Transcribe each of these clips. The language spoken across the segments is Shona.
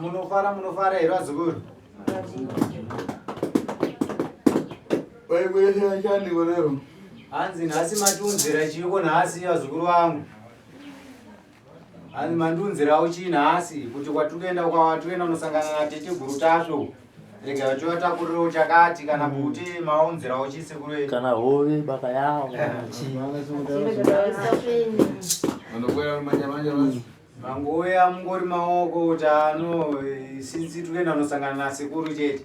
munofara munofara here vazukuru hanzi nhasi matunzira chiiko nhasi vazukuru vangu Ani mandunzirawo chii nhasi kuti kwatikuenda kwawatikuenda unosangana nateteguru tasvo rega vachivatakurirewo chakati kana mm. kuti maunzirawo chii sekuru wenyu kana hove baka yawo mangouya mungori maoko kuti ano sinsi tikuenda unosangana nasekuru chete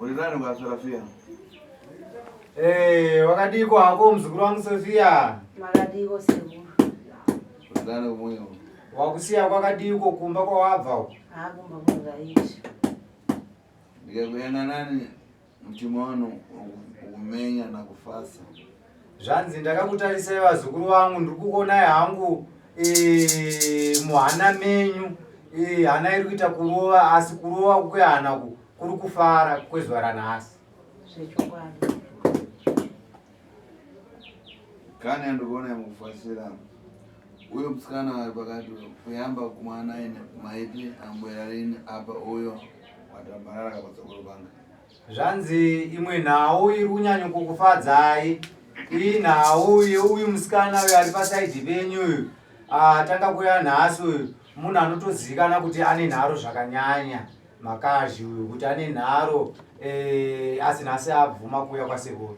Uri nani ukaswera fiya? Eh, wakadiko hako mzukuru wangu Sofia? Makadiko sekuru. Uri nani umwe? Wakusiya kwakadiko kumba kwawabva uko? Ah, kumba kwakaishi. Ndikakuenda nani mtima wanu ukumenya na kufasa. Zvanzi ndakakutarisai vazukuru vangu ndiri kuonai hangu eh, muhana menyu eh, hana iri kuita kurova asi kurova kwehana ku kuri kufara kwezuva ranhasi kani andikuona mukufasira uyo musikana wari pakati kuyamba kumwana ine maipi ambwera rini apa uyo watambarara kapatsakuro panga Zvanzi imwe nhau iri kunyanyo kukufadzai iyi nhau yeuyu musikana uyu ari pasaidhi penyu uyu atanga kuya nhasi uyu munhu anotozikana kuti ane nharo zvakanyanya makazhi uyu kuti ane nharo eh, asi nhasi abvuma kuuya kwasekuru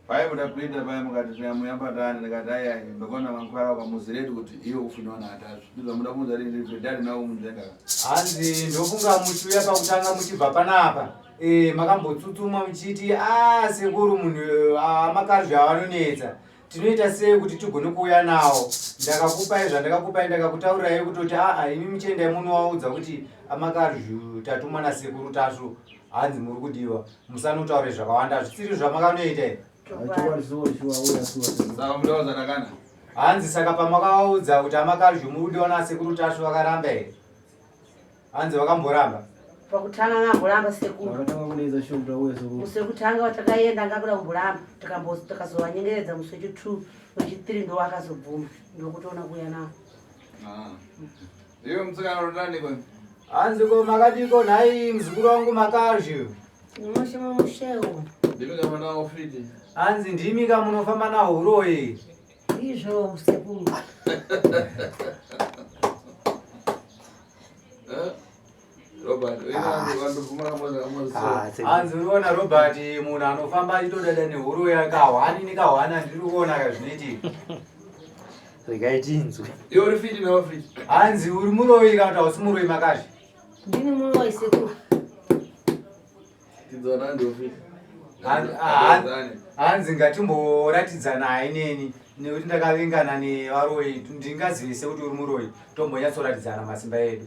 Paibuda Peter paya mukati nyamo yabatana ndikati ayayi ndakaona mankwara kwamuzireti kuti iwe kufunwa naatazvi ndizvamuda kuunza rinzi vedari nawo munzvenga hanzi ndofunga muchiuya pakutanga muchibva panapa e, makambotsutsumwa muchiti a ah, sekuru munhu ah, makarvi avanonetsa tinoita sei kuti tigone kuuya nawo ndakakupai zvandakakupai ndakakutaurirai kutoti aa ah, imi muchiendai munovaudza kuti amakarvi tatumwa nasekuru tasvu hanzi muri kudiwa musanotaure zvakawanda hazvisiri zvamakanoita hanzi saka pamakawaudza kuti amakalju muri kudiwa nasekuru tasvu vakaramba here hanzi vakamboramba pakutanga ngamboramba sekurusekutanga vatakayenda ngakuda kumboramba takazovanyengeredza musi wechi two wechi three ndowakazobvuma ndokutoona kuuya navo ah. Iwe mtsikana unotani ko? Hanzi ko makadiko nhai mzukuru wangu makazhi. Mushe mushewo. Ndimi kama nawo fiti. Hanzi ndimi kama munofamba na huroyi. Izvo sekuru. Eh? Robert, wewe watu vuma kama za kama sio. Anzi unaona Robert munhu anofamba achitoda dani huru yakahwani nikahwana ndiri kuona kazvineti. Regai tinzwe. Iwe uri fiti na uri. Anzi uri muroyi kana kuti hausi muroyi makashi. Ndini muroyi sekuru. Tidzona ndio fiti. Hanzi ngatimboratidzanai neni nekuti ndakavengana nevaroyi ndingazivise kuti uri muroyi tombonyatsoratidzana masimba edu.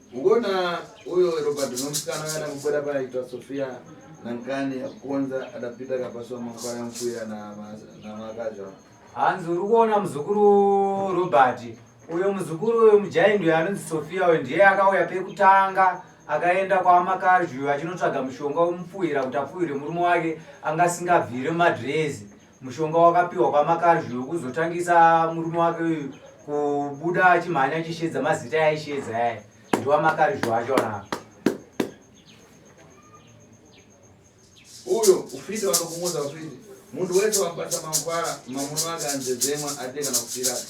Ugoona uyo Robert nomusikana kana kukwera paitwa Sofia nankani akukonza adapita kapaswa makwaya mfuya namakazva hanzi uri kuona muzukuru Robert uyo muzukuru uyo mujaindi uyo anonzi Sofia uyo ndiye akauya pekutanga akaenda kwamakazvi uyo achinotsvaga mushonga womupfuhira kuti apfuhire murume wake anga asingabvire madrezi Mushonga wakapiwa kwaMakanzwi wekuzotangisa murume wake uyu kubuda achimhanya achishedza mazita yaishedza yaya ndiwaMakanzwi wacho na uyo ufite wakakumoza ufite munhu wese wabata mangwara mamuno ake anzedzemwa ate kana kufiraka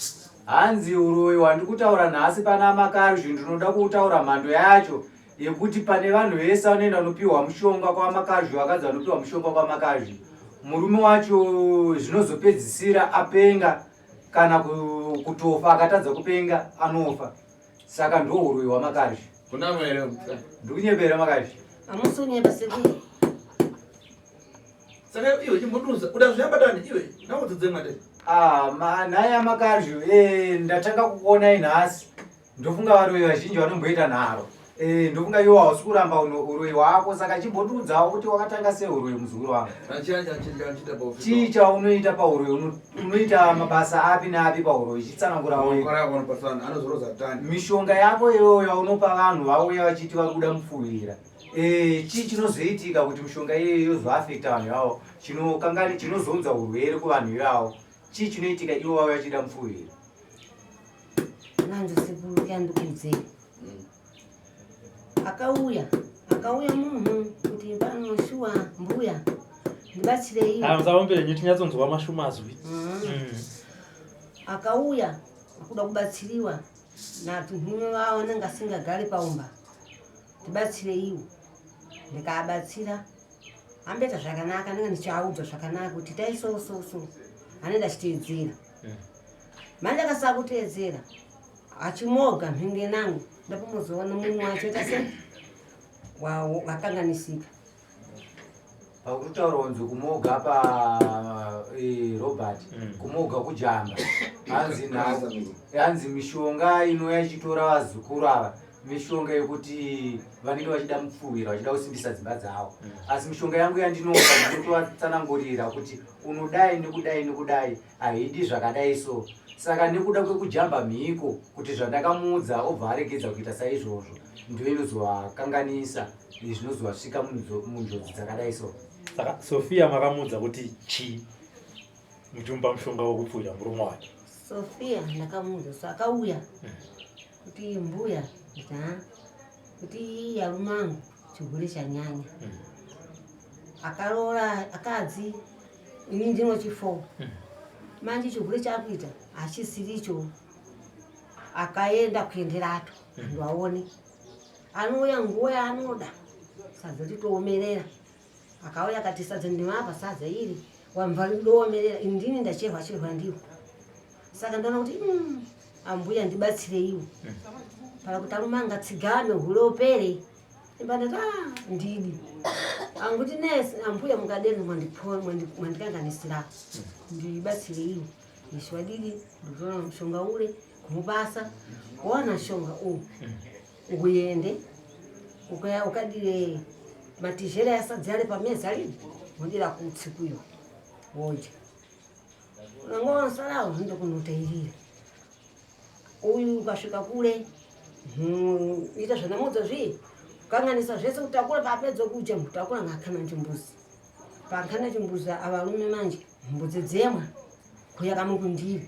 hanzi uroyi wandikutaura nhasi pana makanzvi ndinoda kutaura mhando yacho yekuti pane vanhu vese vanoenda vanopiwa mushonga kwamakazvi vakadzi vanopiwa mushonga kwamakazvi murume wacho zvinozopedzisira apenga kana kutofa akatadza kupenga anofa saka ndouroi hwamakazvi ndikunyebera makazvi amusonyeba sekuru saka iwe chimboduza uda zviyambatani iwe naudzodzemwate ah, nhai amakazvi eh, ndatanga kukuonai nhasi Ndofunga varoyi vazhinji vanomboita nharo. Eh, ndofunga iwe hausi kuramba uno uroyi hwako saka chimbotiudzawo kuti wakatanga sei uroyi muzukuru wangu. Chii chaunoita pauroyi? Uno- Unoita mabasa api neapi pauroyi? Chitsanangura wega. Mishonga yako iyoyo yaunopa vanhu vauya vachiti vari kuda mupfuhwira. Eh, chii chinozoitika kuti mishonga iyoyo yozoafekta vanhu ivavo? Chinokangani chinozounza urwere kuvanhu ivavo? Chii chinoitika ivo vauya vachida mupfuhwira? nanzi sekuru kyandukudzei mm. akauya akauya munhu kuti pano shuwa mbuya ndibatsirei asaomberenyu tinyatsonzwa mashuma azwi mm. mm. akauya akuda kubatsiriwa natunhume vavo anenge asingagari paumba ndibatsireiwo ndikaabatsira amboita zvakanaka ndinge ndichiaudzwa zvakanaka kuti taisososo anoenda achiteedzera manje akasava kuteedzera achimoga mhinge nangu ndapomozoona mumwe wacho ita se wakanganisika pakutaura kunzi kumoga pa eh, robert mm. kumoga kujamba hanzi hanzi mishonga inouya ichitora vazukuru ava mishonga yekuti vanenge vachida mupfuwira vachida kusimbisa dzimba dzavo mm. asi mishonga yangu yandinoa ndinotovatsanangurira kuti unodai nekudai nekudai haidi zvakadai so saka nekuda kwekujamba mhiko kuti zvandakamuudza obva aregedza kuita saizvozvo ndiyo inozovakanganisa zvinozovasvika munjodzi dzakadai so saka sofia makamuudza kuti chii muchimupa mushonga wekupfuira murume wake sofia ndakamuudza so akauya hmm. kuti mbuya ta kuti yarume angu chigure chanyanya mm. akaroora akadzi ini ndinochifoo mm. manje chigure chakuita hachisiricho akaenda kuenderato mm. andu aone anouya nguva yaanoda sadza titoomerera akauya akati sadza ndimapa sadza iri wamva ndoomerera indini ndacherwa cherwa ndiwo saka ndaona kuti mm, ambuya ndibatsireiwo kana kuti arume angatsigame hule upere imbanati ah, ndidi anguti nes ambuya mukadeni mwandikanganisira ndibatsireiwo iswadidi ndikutoona mushonga ule kumubasa wana shonga uwu Nguende ukaya ukadire matizhera yasadzi ari pamezi ari wodira kutsi kuyo wodya unenge wanosarawo zvinoda kunotairira uyu ukasvika kule hmm, ita zvanamodzo zvii kukanganisa zvese kutakura paapedza kudya mutakura ngaakana chimbuzi paakana chimbuzi avarume manje mbudzi dzemwa kuya kamukundiri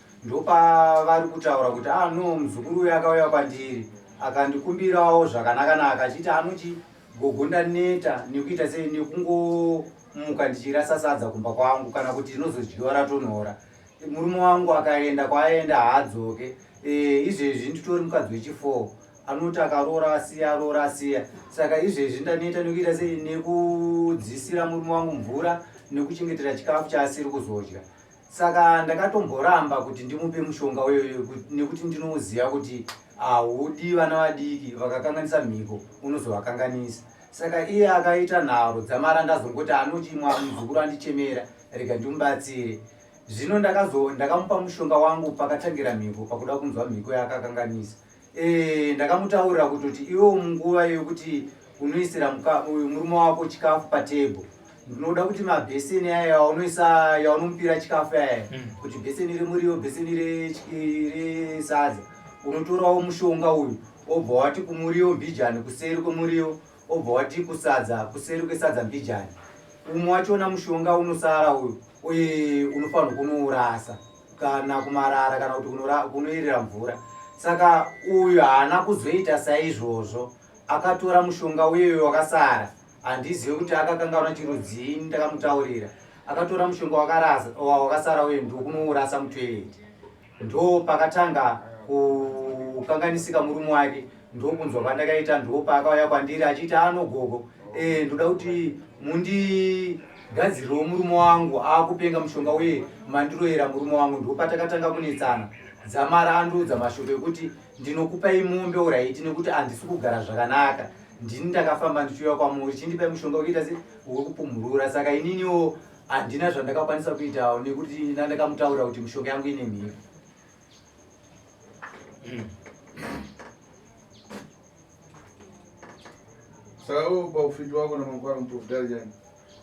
Ndopavari kutaura kuti ah no muzukuru uyu akauya kwandiri akandikumbirawo zvakanakanaka achiti anoti gogo ndaneta nekuita sei nekungomuka ndichirasa sadza kumba kwangu kana kuti ndinozodyiwa ratonhora murume wangu akaenda kwaaenda haadzoke e, izvezvi nditori mukadzi wechifour anoti akaroora asiya aroora asiya saka izvezvi ndaneta nekuita sei nekudzisira murume wangu mvura nekuchengetera chikafu chaasiri kuzodya saka ndakatomboramba kuti ndimupe mushonga uyoyo nekuti ndinoziva kuti haudi vana vadiki vakakanganisa mhiko unozovakanganisa saka iye akaita nharo dzamara ndazongoti anochimwa muzukuru andichemera rega ndimubatsire zvino ndakamupa mushonga wangu pakatangira mhiko pakuda kunzwa mhiko yaakakanganisa Eh, ndakamutaurira kutoti iwewo munguva yokuti unoisira murume wako chikafu patebho ndinoda kuti mabheseni aya yaunoisa yaunomupira chikafu aya mm. kuti bheseni remuriyo bheseni resadza unotorawo mushonga uyu obva wati kumuriyo mbijani kuseri kwemuriyo obva wati kusadza kuseri kwesadza mbijani umwe wachona mushonga unosara uyu uye unofanirwa kunourasa kana kumarara kana kuti kunoyerera mvura saka uyu haana kuzoita saizvozvo akatora mushonga uyeyo wakasara handizive kuti akakangaura chirudzii ndakamutaurira akatora mushonga wakasara uye ndokunourasa mutoireti ndo pakatanga kukanganisika murume wake ndokunzwa kwandakaita ndopaakauya kwandiri achiita ano gogo eh, ndoda kuti mundigadzirirewo murume wangu akupenga mushonga uye mandiroyera murume wangu ndopatakatanga kunetsana dzamara andiudza mashoko ekuti ndinokupai mombe uraiti nekuti handisi kugara zvakanaka ndini ndakafamba ndichiuya kwamuri chindipai mushonga wekuita se wekupumhurura saka ininiwo handina zvandakakwanisa kuitawo nekuti ndandakamutaurira kuti mishonga yangu ine mhiri saka wewe upa ufiti wako na mangwara muprofitari jani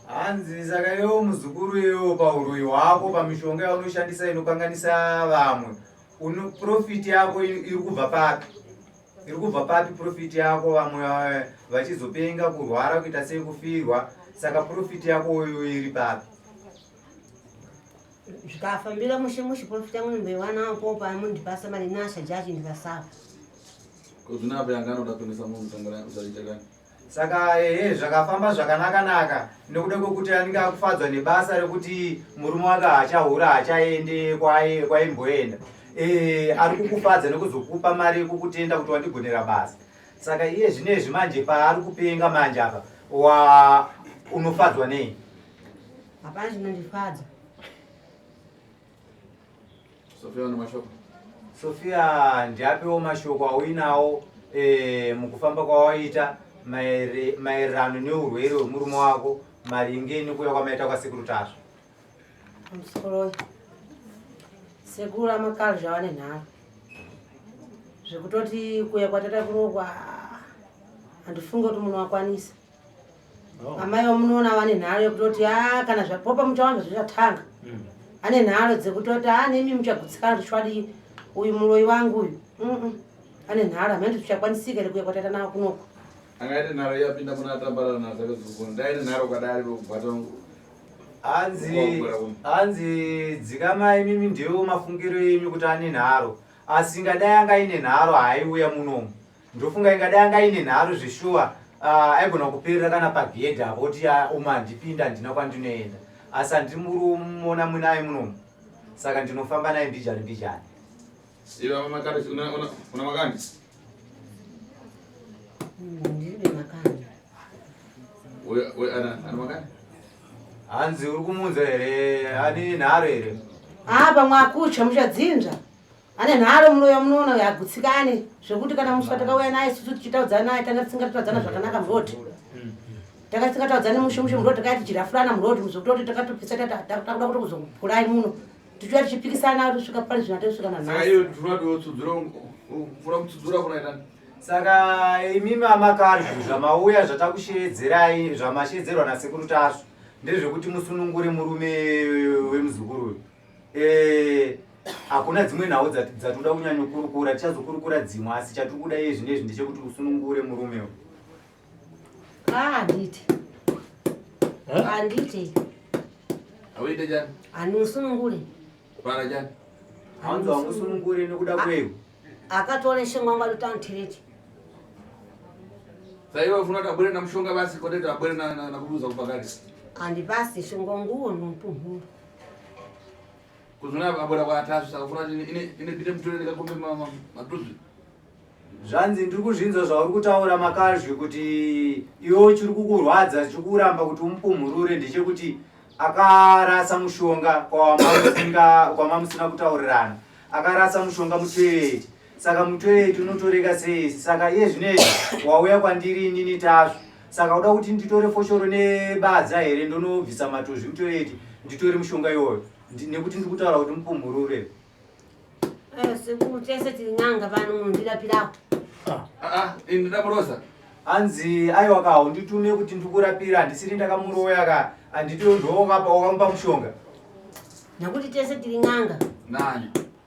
hanzi saka yewo muzukuru yewo pauroyi hwako pamishonga yaunoshandisa inokanganisa vamwe uno profit yako iri kubva papi iri kubva papi profit yako vamwe eh, vachizopenga kurwara kuita sei kufirwa saka profit yako uyo iri papi zvikafambira mushe mushe profita mwe mbewana apo pa mundi pasa mari nasha jaji ndikasawa kuzvina apo yanga anoda kuendesa munhu sangana kuzaita kani saka ehe zvakafamba zvakanaka naka nekuda kwekuti anenge akufadzwa nebasa rekuti murume wake hachahura hachaende kwaimboenda e, ari kukufadza nekuzokupa mari yekukutenda kuti wandigonera basa saka iye zvino izvi manje paari kupenga manje apa wa unofadzwa nei Hapana chinondifadza. Sofia ane mashoko. Sofia ndiapewo mashoko auinawo eh, mukufamba kwawaita maere- maererano neurwere hwemurume wako maringe nekuuya kwamaita kwasekuru tasva. Musikoloyi. Sekuru amakalo zvavane nharo. Zvekutoti kuya kwatata kurokwa ah, handifunge kuti munhu wakwanisa. Oh. amai vamunoona vane nharo yekutoti a ah, kana zvapopa muchawana zvichatanga mm. ane nharo dzekutoti a ah, nemi muchagutsikana tichwadii uyu muroyi wangu uyu ane nharo amene tichakwanisika here kuya kwataita navo kunoko angaite nharo yapinda muna atambarana nazo akazukuona ndaine nharo kwadari vekubata hanzi hanzi dzikamai mimi ndiwo mafungiro enyu kuti ane nharo asi ngadai angaine nharo haiuya munomu Ndofunga ingadai anga ine nharo zveshuwa uh, aigona kuperera kana pagedhi apo kuti ya uma handipinda handina kwandinoenda asi handiri murumona munaye munomu saka ndinofamba naye mbijani mbijani una makandi hanzi uri kumunza here anini nharo here haa pamwe akutya muchadzinza ane nharo muroya munoona uyo agutsikane zvekuti kana muswa takauya naye susu tichitaudzana naye tanga tisingatotaudzana zvakanaka muroti tanga tisingataudzani mushe mushe muroti takaya tichirafurana muroti muzokutoti takatopisa takuda kuto kuzokurai muno tichiuya tichipikisana tosvika pari zvina tosvika nanhasisaka saka imi mamakadzi zvamauya zvatakusheedzerai zvamasheedzerwa nasekuru tasvu ndezvekuti musunungure murume wemuzukuru uyu Eh, hakuna dzimwe nhau dzati- dzatinoda kunyanyokurukura tichazokurukura dzimwe asi chatiri kuda iye zvinezvi ndechekuti usunungure murume uyu Ah, handiti. Huh? Handiti. Awuite chani? Handimusunungure. Kwana chani? hanzi wamusunungure nekuda kweyu Akatore shongwa ngwa lutano tireti. Saiwe ufuna kuti abwere namushonga basi kwete kuti abwere na- na- nakuduza kupakati. Handipasi shongwa nguwo nompuhuru. kuzvona abora kwatasvi saka funa ine mutore ndikakombe matuzvi zvanzi ndiri kuzvinzwa zvauri kutaura makazvi kuti iwe chiri kukurwadza chiri kuramba kuti umupumhurure ndechekuti akarasa mushonga kwamamusina kutaurirana akarasa mushonga muteeti Saka mutoyeti unotorega sei? Saka iye zvinezvi wauya kwandiri inini Tasvu. Saka uda kuti nditore foshoro nebadza here ndonobvisa matuzvi mutoyeti nditore mushonga iwoyo nekuti ndiri kutaura kuti mupumhurure. Eh, sekuru tese tiri n'anga pano munhu ndirapirawo. Ah, ah, ini ndoda kuroza. hanzi aiwa ka haunditume kuti ndikurapira handisiri ndakamuroya ka handiti ndovapa wakamupa mushonga nekuti tese tiri n'anga nani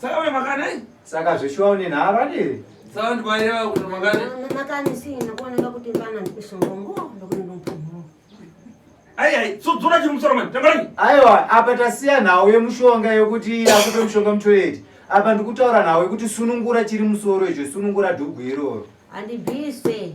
Saka we makanai? Saka zveshuwa une nharo adiri? Saka ndikwaireva kuti makani? Mama makani si nakuoneka kuti vana ndikusongongo ndokuti ndompumhu. Ayi ayi, sudzura chiri musoro mani, tambarani? Aiwa, apa tasiya nhau yemushonga yekuti akupe mushonga mutoyeti. Apa ndikutaura nhau yekuti sunungura chiri musoro icho, sunungura dhugu iroro. Handibise.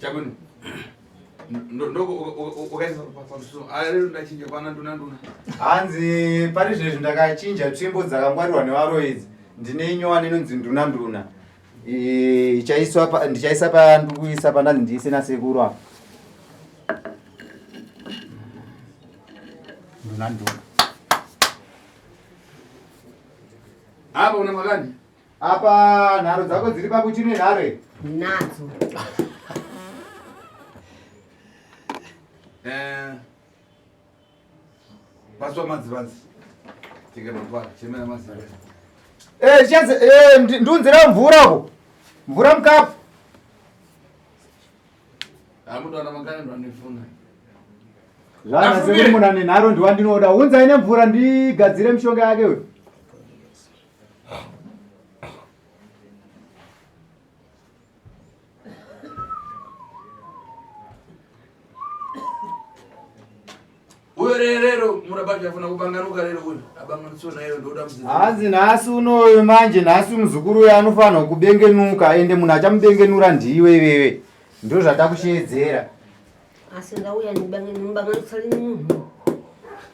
Chakuni. Ndoko ukaisa pamusoro. Ari ndachinja kwana nduna nduna. Hanzi pari zvezvi ndakachinja tsvimbo dzakangwarirwa nevaroyi idzi. Ndine nyowani inonzi nduna nduna. Ichaiswa pa ndichaisa pa ndikuisa pa ndanzi ndiise na sekuru apa. Nduna nduna. Apa una makani? Apa nharo dzako dziri pakuti nenhare. Nadzo. Eh. Paswa madzivanzi. Tika mapara, chemera madzivanzi. Eh, chese eh ndunzira mvura ko. Mvura mkapu. Amudo ana makana ndo anifuna. Zvana sekumuna nenharo ndiwandinoda. Unza ine mvura ndigadzire mishonga yake we. rero murabati afuna kupanganuka rero uyu abanganitsiwa nayo ndoda mzee hanzi nhasi unoyo manje nhasi muzukuru uyo anofanirwa kubengenuka ende munhu achamubengenura ndiwe iwewe ndo zvatakusheedzera asi ndauya ndibanganitsali munhu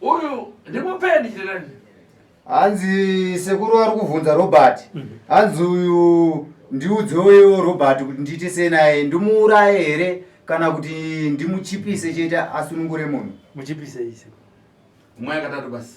Uyu ndimupeni chirani. Hanzi sekuru ari kuvhunza Robert. Mhm. Hanzi uyu ndiudzoyo Robert kuti ndiite sei naye ndimuuraye here kana kuti ndimuchipise chete asunungure munhu. Muchipise ise. Umwe akatatu basi.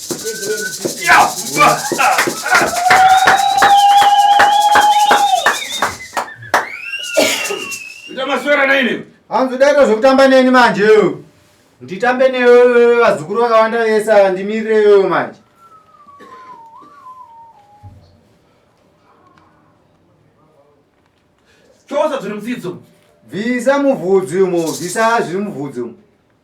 Utamaswera na ini. Hanzi udaita zvekutamba neni manje yo. Nditambe newe vazukuru vakawanda vese ava ndimirire yo manje. Chosa zviri mutsidzo. Bvisa muvhudzi umo, bvisa zviri muvhudzi umo.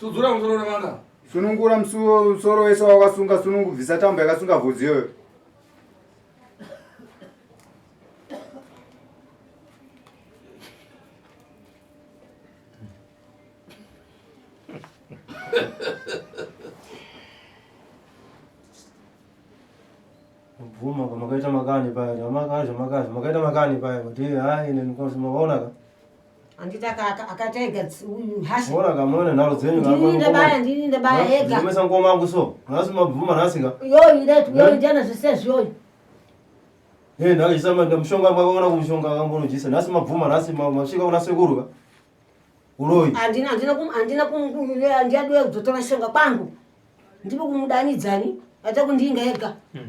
Sudzura musoro wevana. Sunungura musoro wese wawakasunga sunungubvisa tambo yakasunga vhudzi iyoyo. makaita makani paya makaita makani paya kuti hayi neni kosi makaonaka Andita kaka akaita ega hashi. Bora kamona nalo dzenyu kaka. Ndini ndabaya ndini ndabaya ega. Ndimesa ngoma yangu so. Nasi mabvuma nasi ka. Yo ile tu yo ndana zvese zvoyo. Hey nalo isama ndamushonga mwaka ona kumushonga kambono jisa. Nasi mabvuma nasi mashika una sekuru ka. Uroyi. Andina andina kum andina kum ndiya dwe kuzotora shonga kwangu. Ndipo kumudanidzani. Ata kundinga ega. Mm.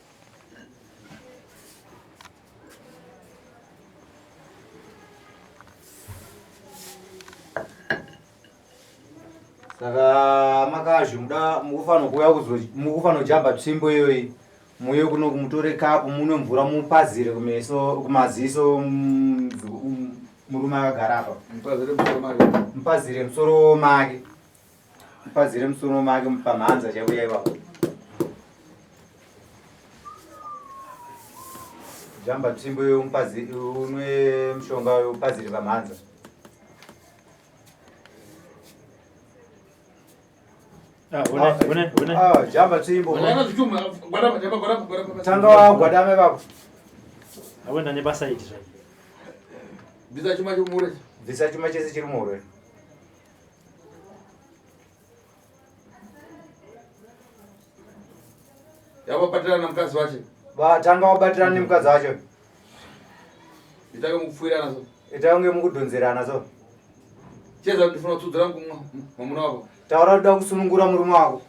saka makazhi muda mukufanira kuuya mukufanira kujamba tsvimbo iyoyi muye kuno kumutore kapu munwe mvura mupazire kumeso kumaziso mm, mm, murume akagara apa mupazire musoro make Pazire musono make pamhanza chaivo yaivapo. Jamba tsimbo yomupazi unwe mushonga yopazire pamhanza. Ah, ah, jamba tsimbo. Tanga wagwadame vako. Awenda nebasa iti zvai. Bvisa chuma chomure. Bvisa chuma chese chiri muhure. yavabatirana namukadzi wacho vatanga vabatirana nemukadzi wacho itange mukupfuirana so itange mukudhonzerana so cheza ndifuna kutsudzira mwamuna wako taura kuda kusunungura murume wako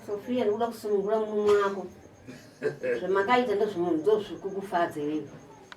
sofia ndikuda kusunungura murume wako zvamakaita ndozvimunhu ndozvikukufadza iwewe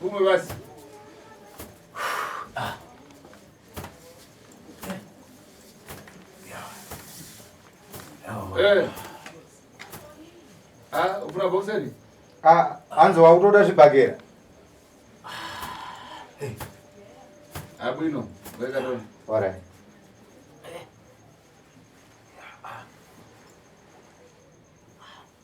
Kumwe basi. Eh. Ah, ufuna boxeri? Ah, anzo wakutoda zvibhakera. Eh. Abwino, weka dona. All right.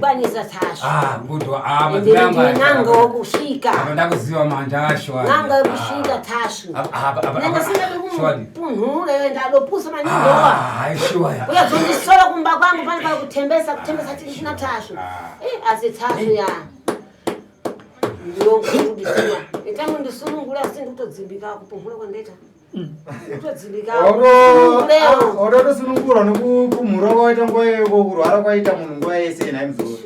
kwanisa tasvo ah, ah, ndinanga wokusvika ah, ndakuziva manja asho nanga wokusvika tasvo nanga singatokupunhure ndadopusa maningiauyazondisora kumba kwangu pane paa kutembesa kutembesa tisina tasvo eh, asi tasvo ya ndiyongoudisiwa itangu ndisunungura asi ndikutodzimbika kupunhura kwandaita ototosunungurwa ah, nokupumhura kwawaita nguva yeko kurwara kwaita munhu nguva yese nhai mzoro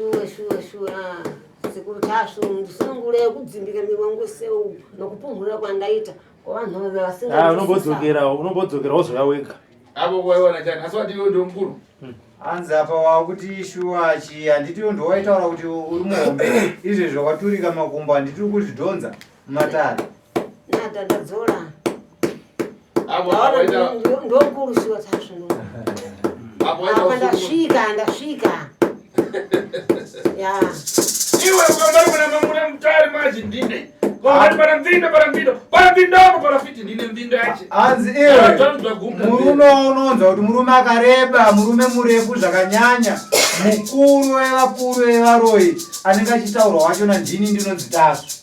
sekuru tasvu ndisunungure kudzimbika miri wangu seu nokupumhura kwandaita kwavanhu vave vasingaunobodzokerao ah, unobodzokerao wozouya wega apo waiona chani asi wati iwe ndomukuru hmm. hanzi apa wakuti shuwa chi handiti ndowaitaura kuti uri muhombe izvezvo kwaturika makumbo handiti uri kuzvidhonza matare nada ndadzola ndokurusiwa sasvino apa ndasvika ndasvika ya iwe kwambari kuna mamuna mutari maji ndine hanzi iwemurume waunonzwa kuti murume akareba murume murefu zvakanyanya mukuru wevakuru vevaroyi anenge achitaurwa wacho nandini ndinonzi tasvu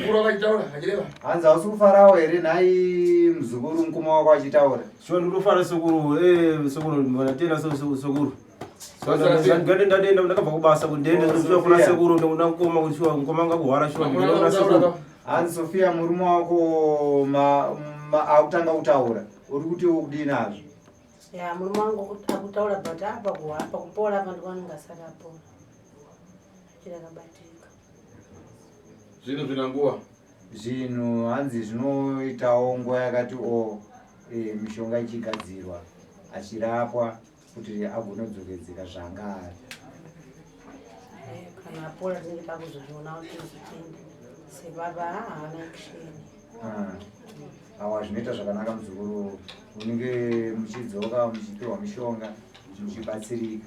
mukuru wakachitaura achireva hanzi hausi kufarawo here nhai muzukuru mukuma wako achitaura sure ndikutofara sekuru eh, sekuru vanatenda sekuru ndade ndadenda ndakabva kubasa kuti ndiende sure oh, kuna sekuru ndokuda kukoma kuti sure mukoma anga kuhwara sure ndinoona sekuru hanzi sofia murume wako akutanga kutaura uri kuti ukudii nazvo ya murume wangu akutaura but apa kuhapa kupola apa ndikwanongasakapora chirakabatika zvinhu zvina nguva zvinhu hanzi zvinoitawo nguva yakati o e, mishonga ichigadzirwa achirapwa kuti agonodzokedzeka zvaanga ari kana apola tinenge takuzozviona kuti zvichende sebaba haana kusheni ah. awa zvinoita zvakanaka muzukuru unenge muchidzoka muchipiwa mishonga muchibatsirika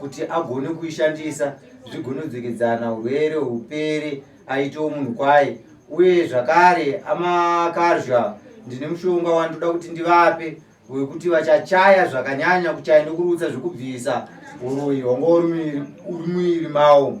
kuti agone kuishandisa zvigonodzokedzana urwere hupere aitewo munhu kwaye uye zvakare amakazha ndine mushonga wandoda kuti ndivape wekuti vachachaya zvakanyanya kuchaya nekurutsa zvekubvisa uroyi hwanga uri muiri mawo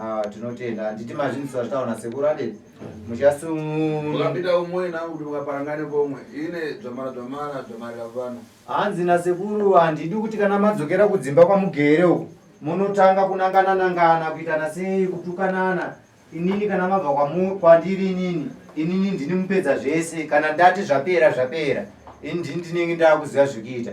Ah, tinotenda handiti mazvinzisa zvataona sekuru ade muchasimuukapinda umwe nakuti mukaparangane komwe ine dzvamara dzvamara dzvamarira vanhu hanzi nasekuru handidi kuti kana madzokera kudzimba kwamugere uku munotanga kunangana nangana kuitana sei kutukanana inini kana mabva kwandiri inini inini ndini mupedza zvese kana ndati zvapera zvapera ini ndini ndinenge ndaakuziva zvekuita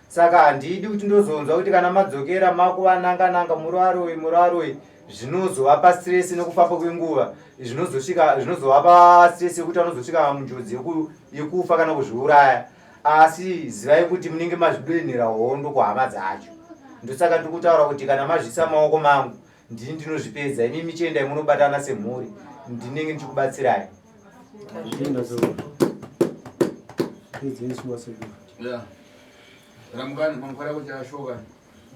saka handidi kuti ndozonzwa kuti kana madzokera makuva nanga nanga muraroi muraroi zvinozovapa stress nekufamba kwenguva zvinozosvika zvinozovapa stress yekuti vanozosvika munjodzi yekufa kana kuzviuraya asi zivai kuti munenge mazvidoinhira hondo kuhama dzacho ndosaka tiri kutaura kuti kana mazvisa maoko mangu ndini ndinozvipedza imi michiendai munobatana semhuri ndinenge ndichikubatsirai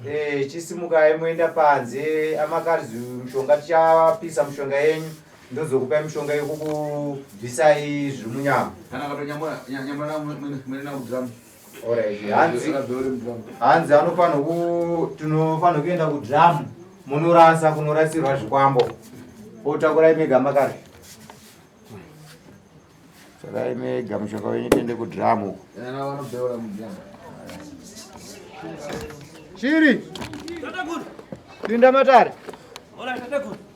eh, chisimukai moenda panze amakarzi mushonga tichapisa mushonga yenyu ndozokupai mushonga yekukubvisai zviri munyama Alright, hanzi hanzi anofanira ku tinofanira kuenda kudhamu munorasa kunorasirwa zvikwambo otakurai mega makare takurai mega mushonga wenyu tiende kudhamu chiri linda matare Hola, ¿qué te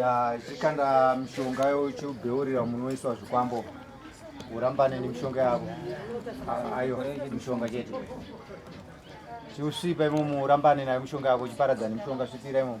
ya chikanda mishonga yochibheurira munoiswa zvikwambo urambane nemishonga yavo ayo mishonga chete chiusvipa imomo urambane nayo mishonga yako uchiparadza nemishonga svipira imomo